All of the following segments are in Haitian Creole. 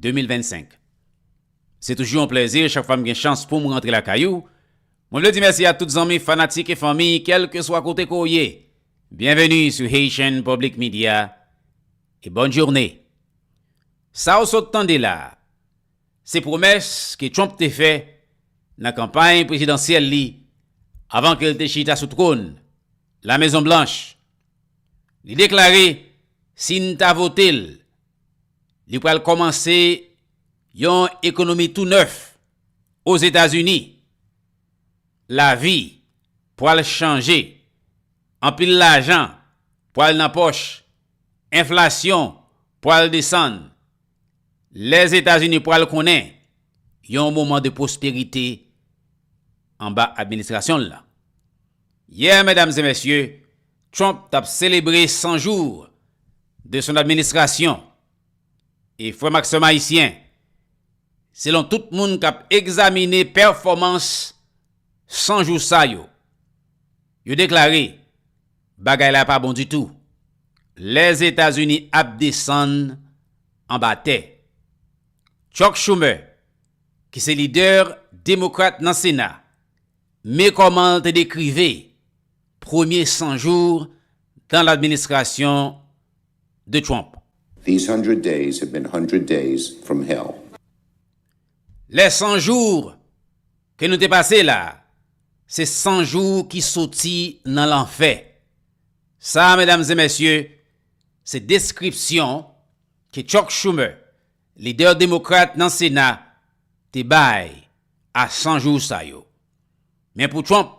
2025. Se toujou yon plèzi chak fwa m gen chans poum rantre lakay ou. Mwen vle di mèsi a tout zanmi, fanatik e fanmi kèlkeswa kote ke w ye. Byenveni sou Haitian Public Media e bòn journe. Sa w sot tande la a, se pwomès ke Trump te fè nan kanpay prezidansyèl li avan ke l te chita sou twòn Lamezonblanch. Li deklare si n ta vote l, Li pral kòmanse yon ekonomi tou nèf Ozetazini. Lavi pral chanje. Anpil lajan pral nan pòch. Enflasyon pral desann. Lèzetazini pral konnen yon moman de pwosperite anba administrasyon l lan. Yè, medam e mesye, Trump tap selebre 100 jou de son administrasyon e frèm ak sèm ayisyen selon tout moun kap egzamine pèfòmans 100 jou sa yo yo deklare bagay la pa bon ditou lèzetazini ap desann anba tè Chuck Schumer ki se lidè demokrat nan sena me kòmanl te dekrive Premye 100 jours dans l'administration de Trump. These hundred days have been hundred days from hell. Les 100 jours ke nou te pase la a, se 100 jou ki soti nan lanfè. Sa a, medam e mesye, se deskripsyon ke Chuck Schumer, lidè demokrat nan Sena, te bay a 100 jou sa yo. Men pou Trump,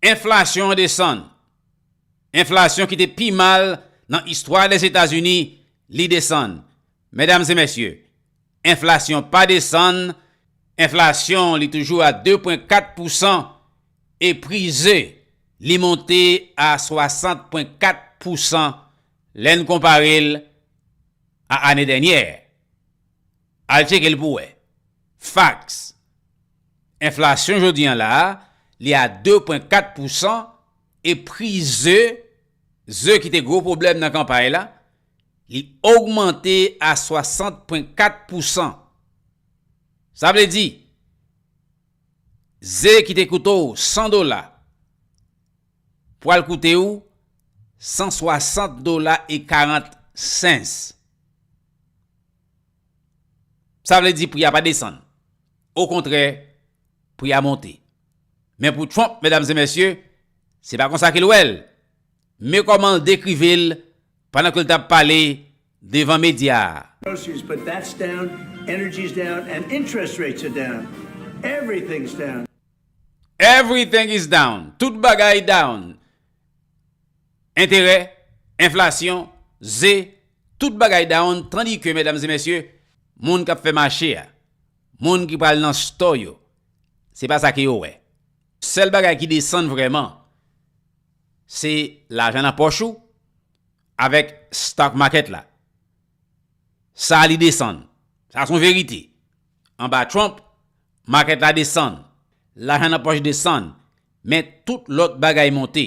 Enflasyon an desann. Enflasyon ki te pi mal nan istwa Lèzetazini, li desann. Medam e mesye, enflasyon pa desann, enflasyon li toujou a 2 pwen 4 pousan e pri ze li monte a 60 pwen 4 pousan lè n konpare l a ane dènyè. Al tcheke l pou wè. Fax, Enflasyon jodi an la a, li a 2 pwen 4 pou san e pri ze, ze ki te gwo pwoblèm nan kanpay la, li ogmante a 60 pwen 4 pou san. Sa vle di, ze ki te koute w 100 dola, pwal koute w 160 dola e 40 cents. Sa vle di pri a pa desann. Okontrè, pri a monte. Men pou Trump, medam e mesye, se pa konsa ke l wè l. Men kòman l dekrive l pandan ke l t ap pale devan medya a. Everything is down. Tout bagay down. Enterè, enflasyon, ze, tout bagay down tandike medam e mesye, moun kap fè mache a, moun ki pral nan stò yo, se pa sa ke yo wè. Sèl bagay ki desann vrèman se lajan nan pòch ou avèk stock market la. Sa li desann. Sa son verite. Anba Trump, market la desann, lajan nan pòch desann, men tout lòt bagay monte.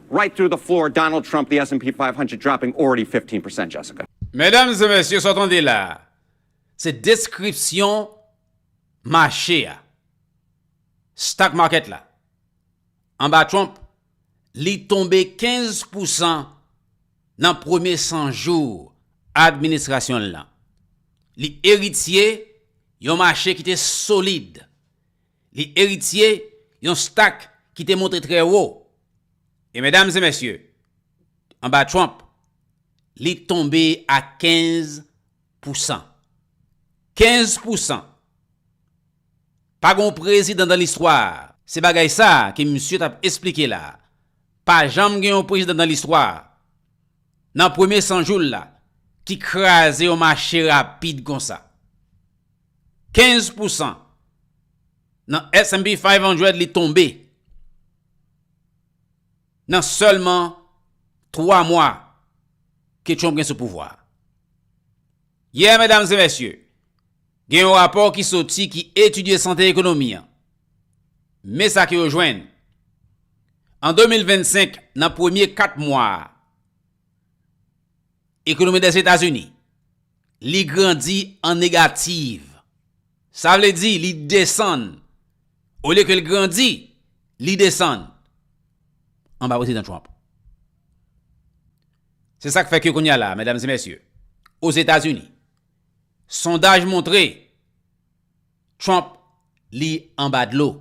Right through the floor Donald Trump the SNP 500 dropping already 15 percent Jessica. Medam e mesye sa w tande la a se deskripsyon mache a, stock market la, anba Trump li tonbe 15 pousan nan premye 100 jou administrasyon l lan. Li eritye yon mache ki te solid, li eritye yon stock ki te monte trè wo. E medam e mesye, anba Trump, li tonbe a 15 pousan. 15 pousan! Pa gon prezidan dan listwa, se bagay sa ke misye t ap esplike la, pa janm gen yon prezidan dan listwa, nan premye 100 jou l la, ki kraze yon mache rapid konsa. 15 pousan nan S&P 500 li tonbe. nan sèlman 3 mwa ke Trump gen sou pouvwa a. Yè, medam e mesye, gen yon rapò ki soti ki etidye sante ekonomi an. Men sa ke yo jwenn, an 2025 nan premye 4 mwa a, Ekonomi dè Etazini, li grandi an negativ. Sa vle di li desann. Olye ke li grandi, li desann. Anba Prezidan Trump. Se sa k fè ke kounye a la, medam e mesye, Ozetazini, sondaj montre Trump li anba dlo.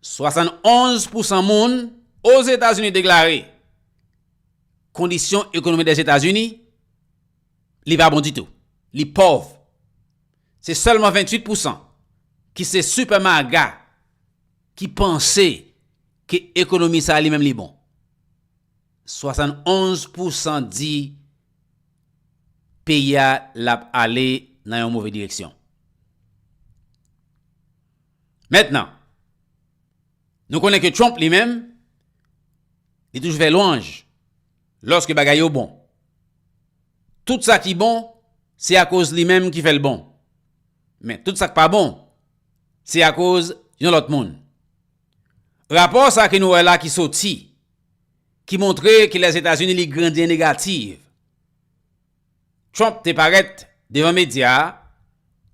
71 pousan moun Ozetazini deklare kondisyon ekonomi Dèzetazini li pa bon ditou, li pòv. Se sèlman 28 pousan ki se sipè maga ki panse ke ekonomi sa li menm li bon. 71 pousan di peyi a lap ale nan yon move direksyon. Mentnan, nou konnen ke Trump li menm, li toujou fè lwanj lòske bagay yo bon. Tout sa ki bon, se akoz li menm ki fè l bon. Men, tout sa k pa bon, se akoz yon lòt moun. Rapò sa ke nou wè la ki soti. ki montre ke Lèzetazini li grandi an negativ. Trump te parèt devan medya,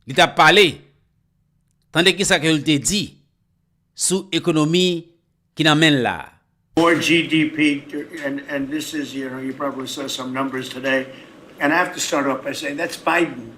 li t ap pale. Tande kisa ke l te di sou ekonomi ki nan men l la. More GDP and this is you know you probably saw some numbers today and I have to start off by saying that's Biden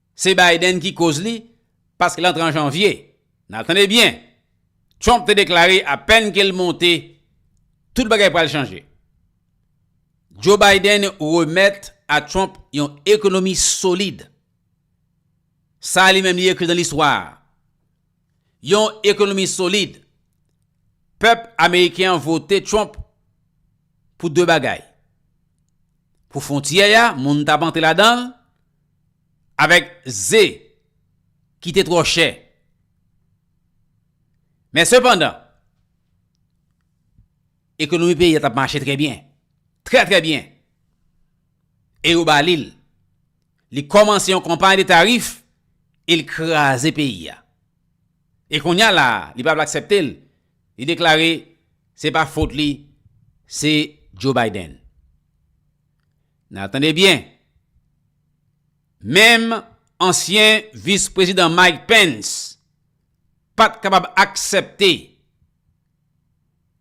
Se Biden ki koz li pask l antre an janvye. Nan tande byen, Trump te deklare apèn ke l monte, tout bagay pral chanje. Joe Biden remèt a Trump yon ekonomi solid. Sa li menm li ekri nan listwa a. Yon ekonomi solid. Pèp ameriken an vote Trump pou 2 bagay. Pou fontyè a, moun t ap antre ladan l. avèk ze ki te twò chè. Men sepandan, ekonomi peyi a t ap mache trè byen, trè trè byen, e yo ba li l. Li kòmanse yon konpay de tarif e l kraze peyi a. E kounye a la a, li pa vle aksepte l, li deklare se pa fot li, se Joe Biden. Nan tande byen, menm ansyen vis prezidan Mike Pence pat kapab aksèpte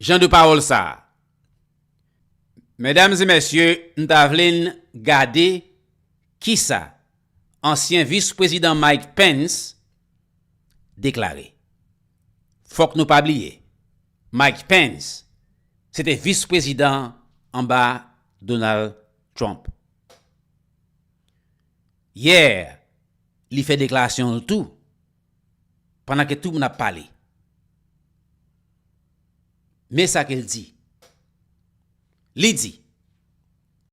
jan de pawòl sa a. Medam e mesye, m ta vle n gade kisa ansyen vis prezidan Mike Pence deklare. Fòk nou pa bliye. Mike Pence se te vis prezidan anba Donald Trump. Yè li fè deklarasyon l tou pandan ke tout moun ap pale. Men sa ke l di. Li di.